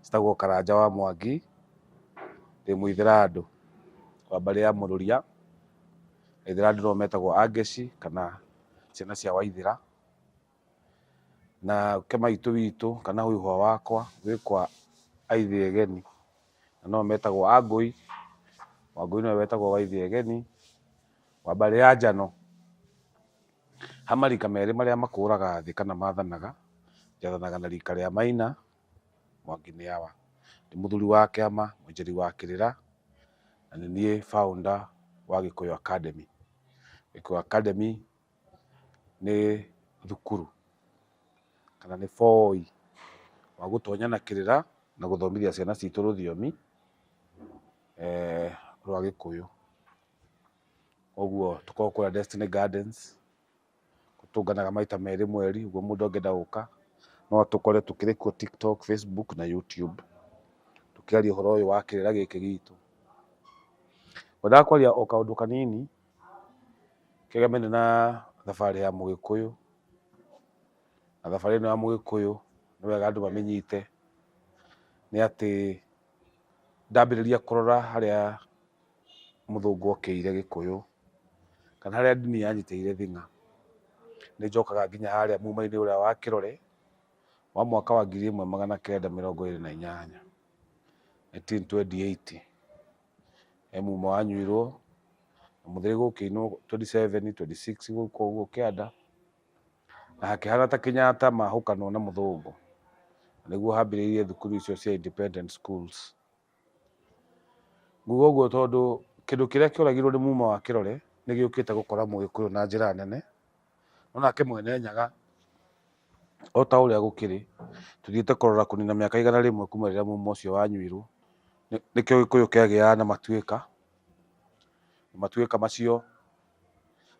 njĩtagwo Karanja wa Mwangi, ndĩ mũithĩrandũ wa mbarĩ ya Mũrũria, aithĩrandũ nĩo metagwo Angeci kana ciana cia Waithĩra, na ũke maitũ witũ kana hũihũa wakwa wĩ kwa Aithiegeni na nĩo metagwo Angũi, Wangũi nĩwe wetagwo Waithiegeni wa mbarĩ ya Njano. Ha marika merĩ marĩa makũũraga thĩ kana maathanaga, njathanaga na riika rĩa Maina, Mwangi Nĩawa. Ndĩ mũthuri wa kĩama, mũinjĩri wa kĩrĩra, na nĩ niĩ founder wa Gĩkũyũ Academy. Gĩkũyũ Academy nĩ thukuru kana nĩ booi wa gũtonya na kĩrĩra na gũthomithia ciana ciitũ rũthiomi rwa Gĩkũyũ. Koguo tũkoragwo kũrĩa Destiny Gardens, tũtũnganaga maita merĩ mweri, ũguo mũndũ angĩenda gũka, no atũkore tũkĩrĩ kuo TikTok, Facebook na YouTube, tũkĩaria ũhoro ũyũ wa kĩrĩra gĩkĩ gitũ. Ngwendaga kwaria o kaũndũ kanini, kegemainie na thabarĩ ya Mũgĩkũyũ, na thabarĩ ĩno ya Mũgĩkũyũ nĩ wega andũ mamĩnyite, nĩ atĩ ndambĩrĩria kũrora harĩa mũthũngũ okĩire gĩkũyũ kana harĩa ndini yanyitĩire thing'a, nĩ njokaga nginya harĩa muma-inĩ ũrĩa wa kĩrore wa mwaka wa ngiri ĩmwe magana kenda mĩrongo ĩrĩ na inyanya, 1928. He muma wanyuirwo, na mũthĩrĩ gũkĩinwo 27, 26 gũkũ ũguo kĩanda, na hakĩhana ta Kĩnyatta mahũkanwo na mũthũngũ. Nĩguo hambĩrĩirie thukuru icio cia independent schools. Nguga ũguo tondũ kĩndũ kĩrĩa kĩoragirwo nĩ muma wa kĩrore nĩ gĩũkĩte gũkora mũgĩkũyũ na njĩra nene, no nake mwene Nyaga o ta ũrĩa gũkĩrĩ tũthiĩte kũrora kũnina mĩaka igana rĩmwe kuma rĩrĩa muma ũcio wanyuirwo, nĩkĩo gĩkũyũ kĩagĩaga na matuĩka, matuĩka macio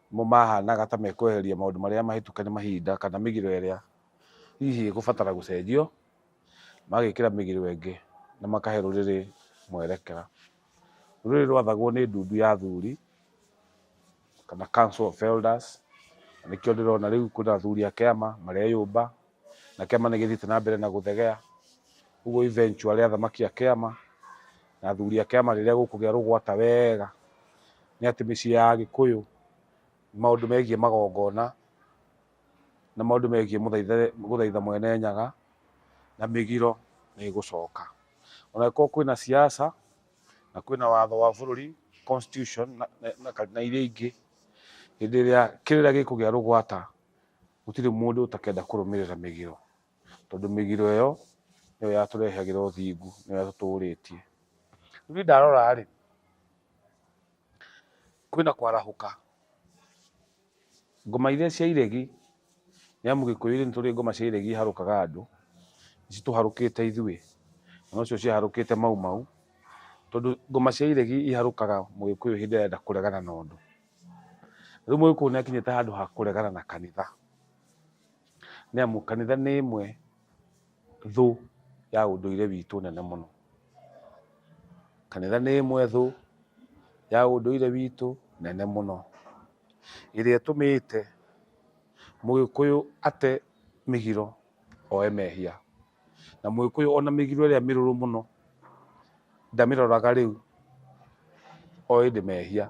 nĩmo mahanaga ta mekweheria maũndũ marĩa mahĩtũke nĩ mahinda kana mĩgiro ĩrĩa hihi ĩgũbatara gũcenjio. magagĩkĩra mĩgiro ĩngĩ na makahe rũrĩrĩ mwerekera. Rũrĩrĩ rwathagwo nĩ ndundu ya athuri kana council of elders, na nĩkĩo ndĩrona rĩu kwĩna athuri a kĩama mareyũmba, na kĩama nĩ gĩthiĩte na mbere na gũthegea. Ũguo eventually athamaki a kĩama na athuri a kĩama rĩrĩa gũkũgĩa rũgwata wega, nĩ atĩ mĩciĩ ya agĩkũyũ maũndũ megiĩ magongona na maũndũ megiĩ gũthaitha Mwene Nyaga na mĩgiro nĩ ĩgũcoka. Ona angĩkorwo kwĩna ciaca na kwĩna watho wa bũrũri, constitution, na iria ingĩ, hĩndĩ ĩrĩa kĩrĩra gĩkũgĩa rũgwata, gũtirĩ mũndũ ũtakenda kũrũmĩrĩra mĩgiro, tondũ mĩgiro ĩyo nĩyo yatũrehagĩra ũthingu, nĩyo yatũtũrĩtie. Rĩu niĩ ndarora-rĩ, kwĩna kwarahũka Ngoma iria cia iregi, nĩ amu Gĩkũyũ-inĩ nĩ tũrĩ ngoma cia iregi iharũkaga andũ, nĩ citũharũkĩte ithuĩ, na nocio ciaharũkĩte Mau Mau, tondũ ngoma cia iregi iharũkaga Mũgĩkũyũ hĩndĩ ĩrĩa arenda kũregana na ũndũ. Rĩu Mũgĩkũyũ nĩ akinyĩte handũ ha kũregana na kanitha, nĩ amu kanitha nĩ ĩmwe. thũ ya ũndũire witũ nene mũno. Kanitha nĩ ĩmwe thũ ya ũndũire witũ nene mũno, ĩrĩa ĩtũmĩte mũgĩkũyũ ate mĩgiro oe mehia. Na mũgĩkũyũ ona mĩgiro ĩrĩa mĩrũrũ mũno ndamĩroraga rĩu, o ĩndĩ mehia.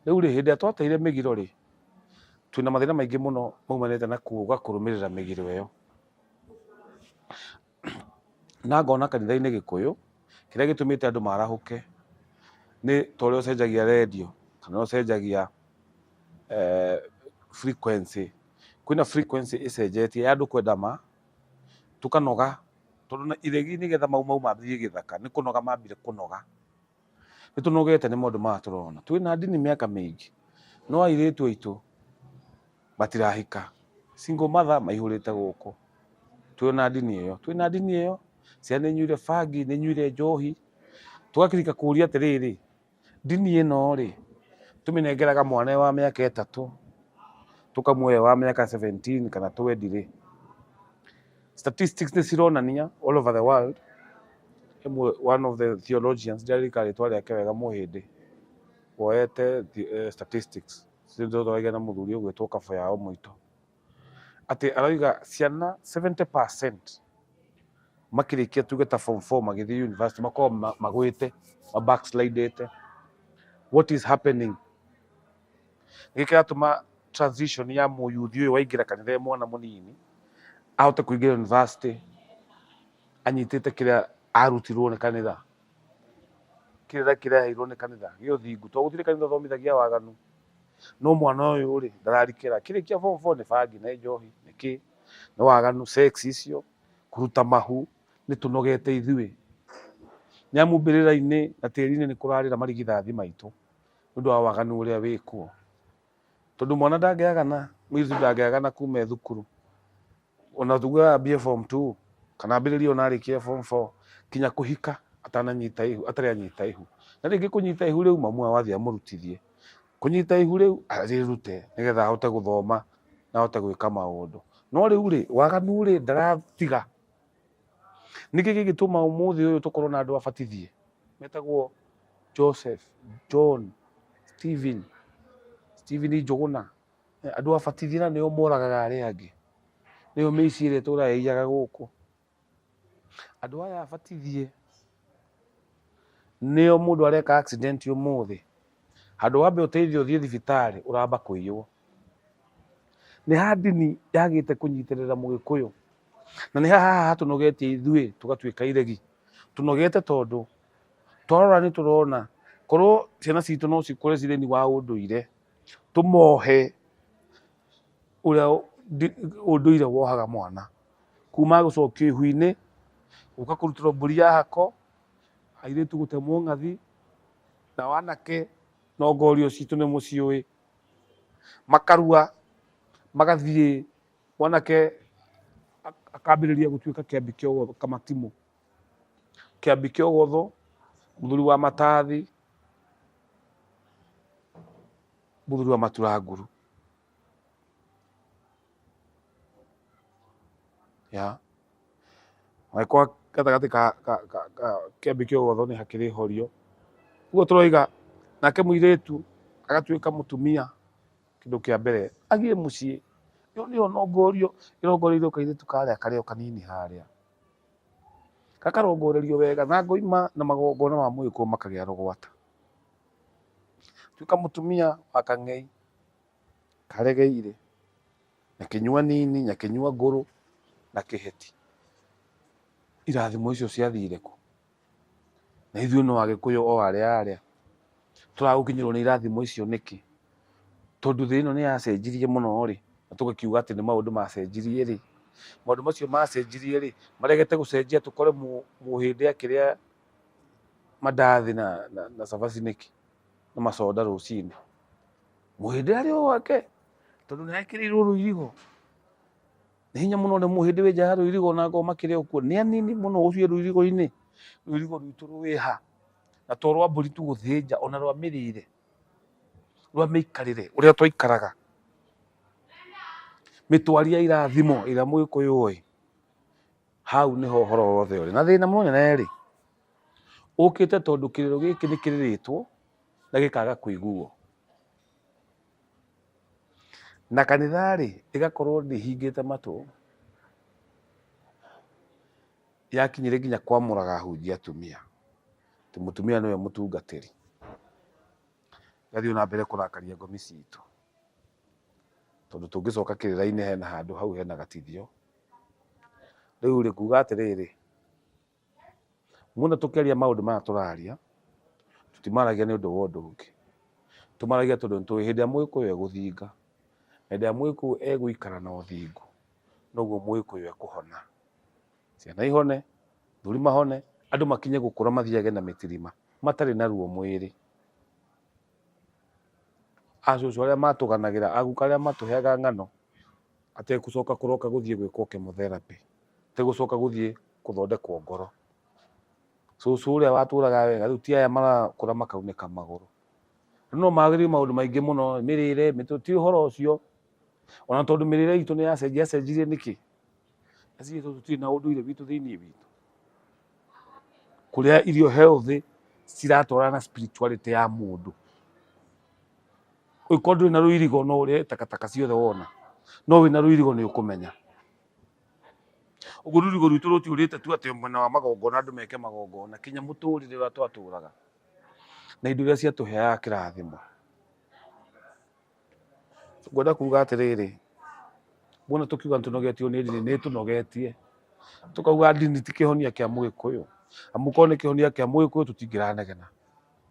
Rĩu rĩ, hĩndĩ ĩrĩa twateire mĩgiro rĩ, twĩna mathĩna maingĩ mũno maumanĩte na kuga kũrũmĩrĩra mĩgiro ĩyo. Na ngona kanitha-inĩ gĩkũyũ, kĩrĩa gĩtũmĩte andũ marahũke nĩ ta ũrĩa ũcenjagia rendio, kana ũcenjagia eh, frequency. Kwĩna frequency ĩcenjetie ya andũ kwenda ma, tũkanoga, tondũ iregi nĩgetha mau mau mambĩrĩrie gĩthaka, nĩ kũnoga mambire kũnoga. Nĩ tũnogete nĩ maũndũ maya tũrona. Twĩ na ndini mĩaka mĩingĩ, no airĩtu aitũ matirahika. Single mother maihũrĩte gũkũ. Twĩ na ndini ĩyo. Twĩ na ndini ĩyo, ciana nĩ inyuire bangi, nĩ inyuire njohi. Tũgakĩrĩka kũũria atĩrĩrĩ, ndini ĩno rĩ, tũmĩnengeraga mwana e wa mĩaka ĩtatũ, tũkamuoya e wa mĩaka seventeen kana twendi rĩ? statistics nä cironania all over the world Ĩmwe- one of the theologians ndirarika rĩtwa rĩake wega mũhĩndĩ woete thi- eh, statistics cithothoragia na mũthuri ũgwĩtwo kabo yao mũitũ atĩ arauga ciana 70 makĩrĩkia tuge ta form 4 magĩthiĩ university makoragwo ma- magwĩte mabackslidĩte what is happening Gĩkĩ kĩratũma transition ya mũyuthi ũyũ waingĩra kanitha e mwana mũnini ahote kũingĩra university anyitĩte kĩrĩa arutirwo nĩ kanitha kĩrĩa kĩreheirwo nĩ kanitha gĩ ũthingu tondũ gũtirĩ kanitha ũthomithagia waganu no mwana ũyũ rĩ ndararikĩra kĩrĩkia form four nĩ bangi nĩ njohi nĩ kĩ nĩ waganu sex icio kũruta mahu nĩ tũnogete ithuĩ nĩ amu mbĩrĩra-inĩ na tĩri-inĩ nĩ kũrarĩra marigithathi maitũ nĩ ũndũ wa waganu ũrĩa wĩkuo tondũ mwana ndangĩagana mũirĩtu ndangĩagana kuma e thukuru ona tuge ambie form two kana ambĩrĩrie ona arĩkia form four kinya kũhika atananyita ihu atarĩ anyita ihu na rĩngĩ kũnyita ihu rĩu mamu awathi amũrutithie kũnyita ihu rĩu arĩrute nĩgetha ahote gũthoma na ahote gwĩka maũndũ no rĩu rĩ waganu rĩ ndaratiga Nĩkĩ gĩgĩtũma ũmũthĩ ũyũ tũkorwo na andũ abatithie metagwo Joseph, John, Stephen, Stephen Njũgũna, eh, andũ abatithie na nĩo moragaga arĩa angĩ, nĩo mĩici ĩrĩa ĩtũraga ĩiyaga gũkũ. Andũ aya abatithie Nĩo mũndũ areka accident ũmũthĩ, handũ wambe ũteithio ũthiĩ thibitarĩ ũramba kũiywo. Nĩ ha ndini yagĩte kũnyitĩrĩra mũgĩkũyũ, na nĩ haha hatũnogetie ithuĩ tũgatuĩka iregi. Tũnogete tondũ twarora nĩ tũrona korwo ciana citũ no cikũre cirĩ wa ũndũire tũmohe. ũrĩa ũndũire wohaga mwana kuma gũcokio ihu-inĩ gũka kũrutĩrwo mbũri ya hako, airĩtu gũtemwo ng'athi, nao anake no ngorio citũ nĩ mũciũĩ. Makarua magathiĩ mwanake akambĩrĩria gũtuĩka kĩambi kĩa ũgũthũ, kamatimũ, kĩambi kĩa ũgũthũ, mũthuri wa matathi. mũthuri wa matura nguru ya agĩkorwo gatagatĩ ka ka- ka- ka- kĩambi kĩa ũgotho nĩ hakĩrĩ horio ũguo tũroiga nake mũirĩtu agatuĩka mũtumia kĩndũ kĩa mbere agĩe mũciĩ nĩ nĩ ũnongorio ĩrongoreirio kairĩtu karĩa karĩa o kanini harĩa gakarongorerio wega na ngoima na magongona ma mũgĩkũyũ makagĩa rũgwata Tuĩka mũtumia wa kang'ei, karegeire, na kĩnyua nini, na kĩnyua ngũrũ, na kĩheti. Irathimo icio ciathire kũ? Na ithuĩ no agĩkũyũ o arĩa arĩa. Tũragũkinyĩrwo nĩ irathimo icio nĩkĩ? Tondũ thĩ ĩno nĩ yacenjirie mũno rĩ, na tũgakiuga atĩ nĩ maũndũ macenjirie rĩ, maũndũ macio macenjirie rĩ, maregete gũcenjia tũkore mũhĩndĩ akĩrĩa mandathi na, na, na cabaci nĩkĩ na macoda rũcinĩ mũhĩndĩ arĩ o wake tondũ nĩekĩrĩirwo rũirigo nĩ hinya mũno nĩ mũhĩndĩ wĩ nja ya rũirigo na ngoo makĩrĩ okuo nĩ anini mũno ũcio rũirigo-inĩ rũirigo rwitũ rwĩha na to rwa mbũri tu gũthĩnja ona rwa mĩrĩre rwa mĩikarĩre ũrĩa twaikaraga mĩtwarie ya irathimo ĩrĩa mũgĩkũyũ oĩ hau nĩho ũhoro wothe ũrĩ na thĩna mũnene rĩ ũkĩte tondũ kĩrĩro gĩkĩ nĩ kĩrĩrĩtwo na gĩkaga kũiguo na kanitha rĩ ĩgakorwo ndĩhingĩte matũ yakinyire nginya kwamũraga ahunjia atumia atĩ mũtumia nĩwe mũtungatĩri gathiĩ na mbere kũrakaria ngomi citũ tondũ tũngĩcoka kĩrĩra-inĩ hena handũ hau hena gatithio Rĩu rĩ, kuga atĩrĩrĩ, muona tũkĩaria maũndũ maya tũraria, tũtimaragia nĩ ũndũ wa ũndũ ũngĩ. Tũmaragia tondũ nĩ tũĩ hĩndĩ ĩrĩa mũgĩkũyũ egũthinga, hĩndĩ ĩrĩa mũgĩkũyũ egũikara na ũthingu, noguo mũgĩkũyũ ekũhona. Ciana ihone, athuri mahone, andũ makinye gũkũra mathiage na mĩtirima, matarĩ na ruo mwĩrĩ. Acũcũ arĩa matũganagĩra, aguka arĩa matũheaga ng'ano, Ategũcoka kũroka gũthiĩ gwĩkwo chemotherapy, ategũcoka gũthiĩ gũthondekwo ngoro. Cũcũ ũrĩa watũraga wega, rĩu ti aya marakũra makaunĩka magũrũ. Rĩu no magĩrĩrio maũndũ maingĩ mũno, mĩrĩre, mĩtũ, ti ũhoro ũcio. Ona tondũ mĩrĩre itũ nĩ yacenjia, yacenjirie nĩkĩ? Aciari aitũ tũtirĩ na ũndũire witũ thĩiniĩ witũ. Kũrĩa irio healthy, ciratwarana na spirituality ya mũndũ. ũngĩkorwo ndũrĩ na rũirigo no ũrĩe takataka ciothe wona no wĩna rũirigo nĩ ũkũmenya ũguo rũirigo rwitũ rũtiũrĩte tu atĩ mwena wa magongona andũ meke magongona kinya mũtũrĩre ũrĩa twatũraga na indo iria ciatũheaga kĩrathimo ngwenda kuga atĩrĩrĩ wona tũkiuga nĩtũnogetio nĩ ndini nĩ tũnogetie tũkauga ndini ti kĩhonia kĩa mũgĩkũyũ amu korwo nĩ kĩhonia kĩa mũgĩkũyũ tũtingĩranegena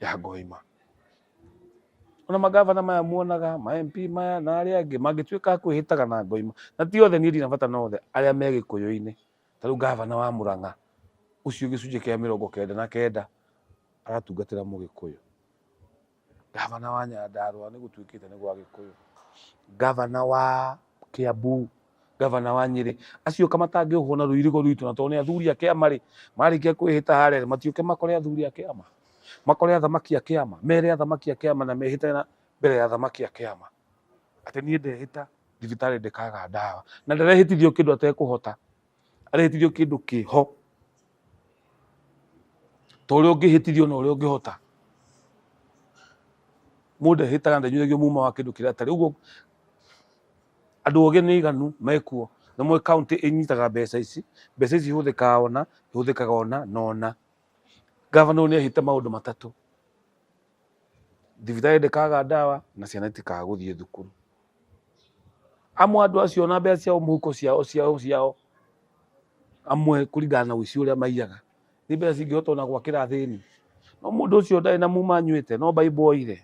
ya ngoima ona magavana maya muonaga ma MP maya na arĩa angĩ mangĩtuĩka a kwĩhĩtaga na ngoima na ti othe niĩ ndina bata na othe arĩa me gĩkũyũ-inĩ ta rĩu gavana wa Mũrang'a ũcio gĩcunjĩ kĩa mĩrongo kenda na kenda aratungatĩra mũgĩkũyũ gavana wa Nyandarũa nĩ gũtuĩkĩte nĩ gwa gĩkũyũ gavana wa Kiambu gavana wa Nyĩrĩ acio ka matangĩohwo na rũirigo rwitũ na tondũ nĩ athuri a kĩama rĩ marĩkia kwĩhĩta harĩa rĩ matiũke makore athuri a kĩama makore athamaki a kĩama mere athamaki a kĩama na mehĩte na mbere ya athamaki a kĩama atĩ niĩ ndehĩta thibitarĩ ndĩkaga ndawa na ndarehĩtithio kĩndũ atekũhota arehĩtithio kĩndũ kĩho ta ũrĩa ũngĩhĩtithio na ũrĩa ũngĩhota mũndũ ehĩtaga na ndanyuithagio muma wa kĩndũ kĩrĩa atarĩ ũguo Andũ ogĩ nĩ aiganu mekuo. Nĩ mũĩ county ĩnyitaga mbeca ici, mbeca ici ihũthĩkaga ona, ihũthĩkaga ona na ona. Governor ũyũ nĩ ehĩte maũndũ matatũ, thibitarĩ ndĩkaga ndawa na ciana itikaga gũthiĩ thukuru. Amwe andũ acio ona mbeca ciao mũhuko ciao ciao ciao amwe kũringana na ũici ũrĩa maiyaga, nĩ mbeca cingĩhota ona gwakĩra athĩni. No mũndũ ũcio ndarĩ na muma anyuĩte, no Bible oire.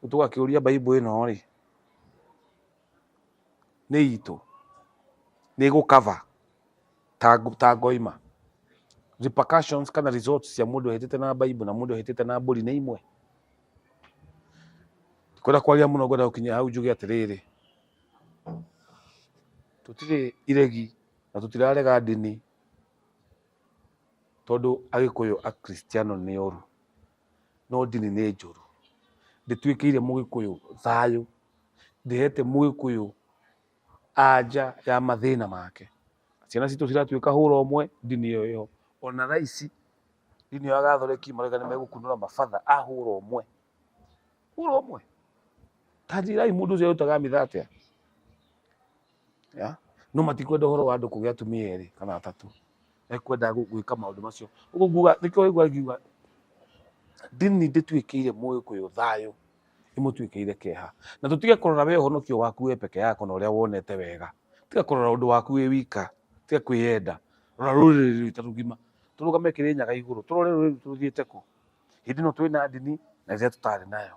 Rĩu tũgakĩũria Bible ĩno rĩ, nĩ itũ? Nĩ ĩgũ cover ta ngoima? Repercussions kana results cia mũndũ ũhĩtĩte na Bible na mũndũ ũhĩtĩte na mbũri nĩ imwe? Ndikwenda kwaria mũno ngwenda gũkinya hau njuge atĩrĩrĩ, tũtirĩ iregi na tũtirarega ndini tondũ Agĩkũyũ Akristiano nĩ oru. no ndini nĩ njũru. Ndĩtuĩkĩire mũgĩkũyũ thayũ, ndĩhete mũgĩkũyũ anja ya mathĩna make. Ciana citũ ciratuĩka hũra ũmwe ndini ĩyo ĩho. Ona thaa ici ndini ĩyo ya gathoreki marauga nĩ megũkunũra mabatha a hũra ũmwe. Hũra ũmwe? Ta njĩrai mũndũ ũcio arutaga mitha atĩa? ya no matikwenda horo wa andu kugia atumia eri kana atatu ekwenda gwika maundu macio uguo nguga nikio igua ngiuga ndini ndituikiire muikuyu thayo imutuikiire keha na tutige kurora we uhonokio waku we peke yako na uria wonete wega tiga kurora undu waku wi wika tiga kwiyenda rora ruriri rwitu rugima turugame kirinyaga iguru turore ruriri rwithu ruthiite ku hindi no twi na ndini na riria tutari nayo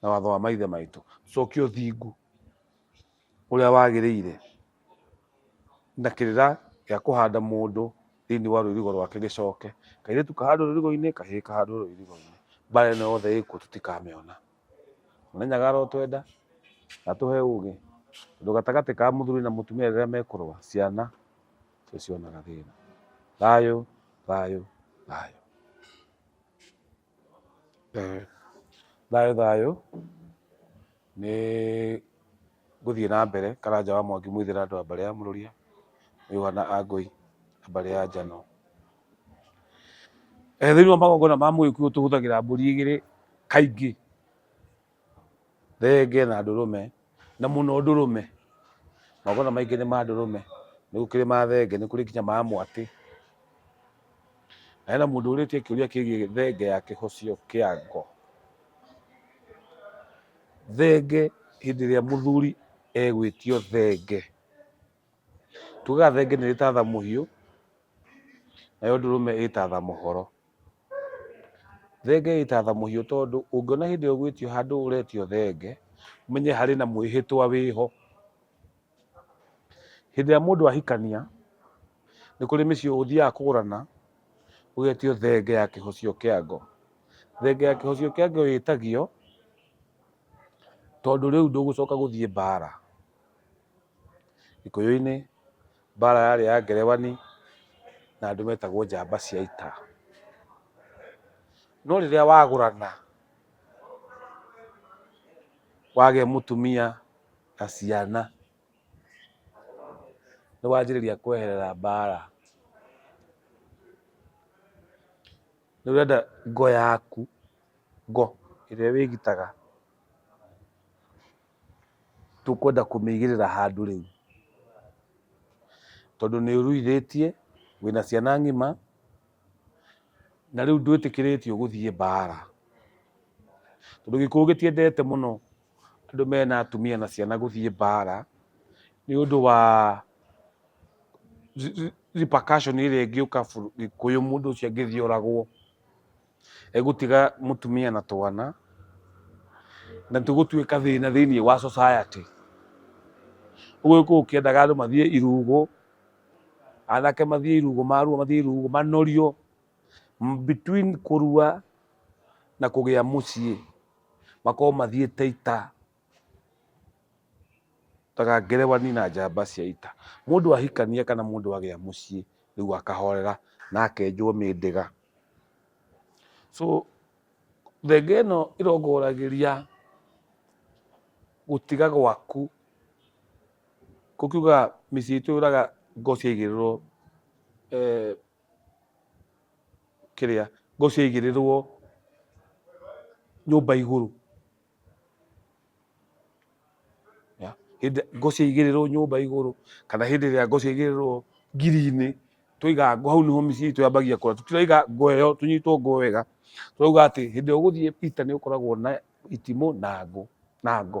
na watho wa maithe maitũ cokia ũthingu ũrĩa wagĩrĩire na kĩrĩra gĩa kũhanda mũndũ thĩinĩ wa rũirigo rwake gĩcoke kairĩtu kahandwo rũirigo-inĩ kahĩĩ kahandwo rũirigo-inĩ mbara ĩno yothe ĩkuo tũtikamĩona mũnenyaga arotwenda na tũhe ũgĩ tondũ gatagatĩ ka mũthuri na mũtumia rĩrĩa mekũrũa ciana cionaga thĩna thayũ thayũ thayũ Thayũ thayũ, nĩ gũthiĩ na mbere Karanja wa Mwangi Mũithĩra andũ a mbarĩ ya Mũrũria, Mĩihwa na Angũi a mbarĩ ya Njano. Thĩiniĩ wa magongona ma Mũgĩkũyũ tũhũthagĩra mbũri igĩrĩ kaingĩ. Thenge na ndũrũme, na mũno ndũrũme. Magongona maingĩ nĩ ma ndũrũme, nĩ gũkĩrĩ ma thenge, nĩ kũrĩ nginya ma mwatĩ. Na hena mũndũ ũrĩtie kĩũria kĩgiĩ thenge ya kĩhocio kĩa ngo. Thenge hĩndĩ ĩrĩa mũthuri egwĩtio thenge, Tugaga thenge nĩrĩ tatha mũhiũ, nayo ndũrũme ĩ tatha mũhoro. Thenge ĩ tatha mũhiũ tondũ ũngĩona hĩndĩ ĩyo ũgwĩtio handũ ũretio thenge, ũmenye harĩ na mwĩhĩtwa wĩho. Hĩndĩ ĩrĩa mũndũ ahikania, nĩ kũrĩ mĩciĩ ũthiaga kũgũrana, ũgetio thenge ya kĩhocio kĩa ngo. Thenge ya kĩhocio kĩa ngo ĩtagio, tondũ rĩu ndũgũcoka gũthiĩ mbaara. Gĩkũyũ-inĩ mbara yarĩ ya ngerebani na andũ metagwo njamba cia ita. No rĩrĩa wagũrana wagĩa mũtumia na ciana nĩ wanjĩrĩria kweherera mbara. Nĩ ũrenda ngo yaku, ngo ĩrĩa wĩgitaga. tũkwenda kũmĩigĩrĩra handũ rĩu, tondũ nĩ ũruithĩtie, wĩna ciana ng'ima, na rĩu ndwĩtĩkĩrĩtio gũthiĩ mbaara, tondũ Gĩkũyũ gĩtiendete mũno andũ mena atumia na ciana gũthiĩ mbaara, nĩ ũndũ wa repercussion ĩrĩa ĩngĩũka Gĩkũyũ mũndũ ũcio angĩthiĩ oragwo. egũtiga mũtumia na twana na tũgũtuĩka thĩna thĩinĩ wa society ũgũgĩkũyũ ũkĩendaga andũ mathiĩ irugũ anake mathiĩ irugũ marua mathiĩ irugũ manorio M- between kũrua na kũgĩa mũciĩ makorwo mathiĩte ita Taga ngerewani na njamba cia ita. Mũndũ ahikania kana mũndũ agĩa mũciĩ rĩu akahorera na akenjwo mĩndĩga. So thenge ĩno ĩrongoragĩria gũtiga gwaku kũkiuga mĩciĩ itũ yũraga ngo ciaigĩrĩrwo eh, kĩrĩa ngo ciaigĩrĩrwo nyũmba igũrũ Ya, hĩndĩ ngũ ciaigĩrĩrwo nyũmba igũrũ kana hĩndĩ ĩrĩa ngũ ciaigĩrĩrwo ngiri-inĩ twaiga ngũ hau nĩho mĩciĩ itũ yambagia kũra tũtiraiga ngũ ĩyo tũnyitwo ngũ wega twauga atĩ hĩndĩ ĩrĩa ũgũthiĩ peter nĩ ũkoragwo na itimũ na ngũ na ngũ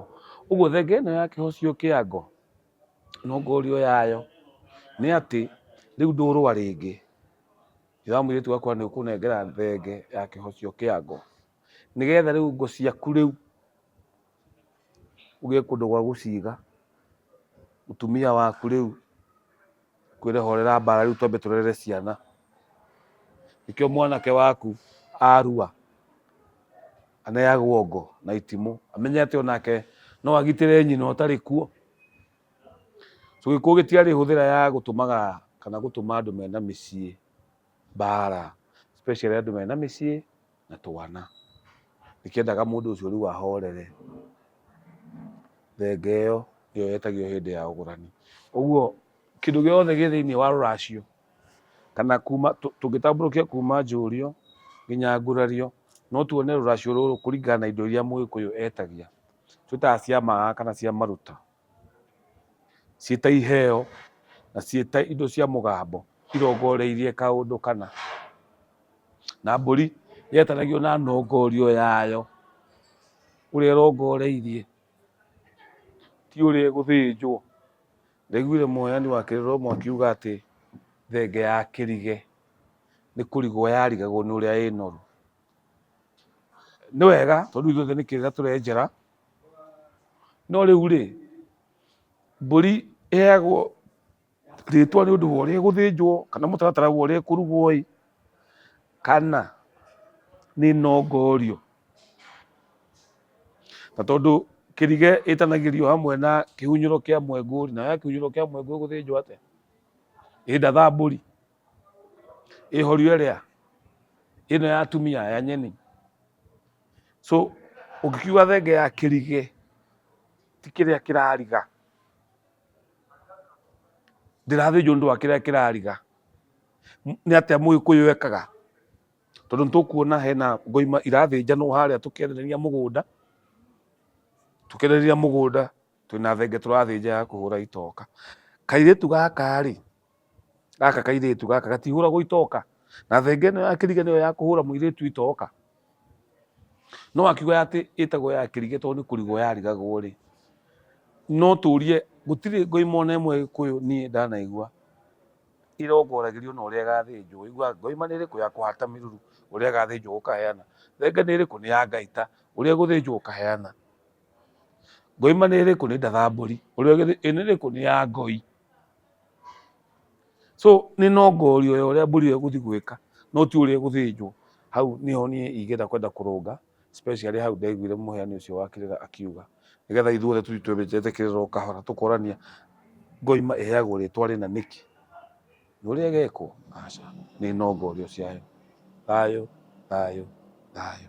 ũguo thenge ĩno ya kĩhocio kĩa ngũ nongorio yayo nĩ atĩ rĩu ndũrũa rĩngĩ ithe wa mũirĩtu wakwa nĩ ũkũnengera thenge ya kĩhocio kĩa ngũ. nĩgetha rĩu ngo ciaku rĩu ũgĩe kũndũ gwa gũciga mũtumia waku rĩu kwĩre horera mbara rĩu twambe tũrere ciana nĩkĩo mwanake waku arua aneagwo ngo na itimũ amenye atĩ onake no agitĩre nyina ũtarĩ kuo so gĩkuũ gĩtiarĩ hũthĩra ya gũtũmaga kana gũtũma andũ mena mĩciĩ mbara especially andũ mena mĩciĩ na twana. Ndikĩendaga mũndũ ũcio rĩu ahorere. Thenge ĩyo nĩyo yetagio hĩndĩ ya ũgũrani. Ũguo kĩndũ gĩothe gĩ thĩinĩ wa rũracio kana kuma tũngĩtambũrũkia kuma njũrio nginya ngurario no tuone rũracio rũrũ kũringana na indo iria mũgĩkũyũ etagia twĩtaga cia maa kana cia maruta. ciĩ ta iheo na ciĩ ta indo cia mũgambo irongoreirie kaũndũ kana. Na mbũri yetanagio na nongorio yayo ũrĩa ĩrongoreirie ti ũrĩa ĩgũthĩnjwo. Ndaiguire mũheani wa kĩrĩromo akiuga atĩ thenge ya kĩrige nĩ kũrigwo yarigagwo nĩ ũrĩa ĩnoru. Nĩ wega tondũ ithuothe nĩ kĩrĩga tũrenjera. no rĩu rĩ mbũri ĩheagwo rĩtwa nĩ ũndũ wa ũrĩa ĩgũthĩnjwo kana mũtaratara wa ũrĩa ĩkũrugwo ĩ kana nĩ ĩnongorio, na tondũ kĩrige ĩtanagĩrio hamwe na kĩhunyĩro kĩa mwengũ rĩ, nayo ya kĩhunyĩro kĩa mwengũ ĩgũthĩnjwo atĩa? Ĩ ndathambũri. ĩhorio ĩrĩa ĩno ya atumia ya nyeni so ũngĩkiuga thenge ya kĩrigĩ ti kĩrĩa kĩrariga ndĩrathĩnjwo nĩ ũndũ wa kĩrĩa kĩrariga M- nĩ atĩa mũgĩkũyũ ekaga tondũ nĩ tũkuona hena ngoima irathĩnjanwo harĩa tũkĩendereria mũgũnda tũkĩendereria mũgũnda twĩna thenge tũrathĩnja ya kũhũra itoka kairĩtu gaka rĩ Gaka kairĩtu gaka gatihũragwo itoka. Na thenge ĩno ya kĩriga nĩyo ya kũhũra mũirĩtu itoka. No akiuga atĩ ĩtagwo ya kĩriga tondũ nĩ kũrigwo yarigagwo rĩ, no tũrie gũtirĩ ngoima ona ĩmwe Gĩkũyũ niĩ ndanaigua ĩrongoragĩrio na ũrĩa ĩgathĩnjwo. Ũiguaga ngoima nĩ ĩrĩkũ ya kũhata mĩruru ũrĩa ĩgathĩnjwo ũkaheana. Thenge nĩ ĩrĩkũ nĩ ya Ngai ta ũrĩa ĩgũthĩnjwo ũkaheana. Ngoima nĩ ĩrĩkũ nĩ ndatha mbũri, ĩno ĩrĩkũ nĩ ya ngoi So nĩ no ngorio ya ũrĩa mbũri ĩyo ĩgũthiĩ gwĩka no ti ũrĩa ĩgũthĩnjwo. Hau nĩho niĩ ingĩenda kwenda kũrũnga especially hau ndaiguire mũheani ũcio wa kĩrĩra akiuga. Nĩgetha ithuothe tũthiĩ twenjete kĩrĩra o kahora tũkorania ngoima ĩheagwo rĩtwa rĩna nĩkĩ? Nĩ ũrĩa ĩgekwo? Aca. Nĩ no ngorio ciayo. Thayũ, thayũ, thayũ.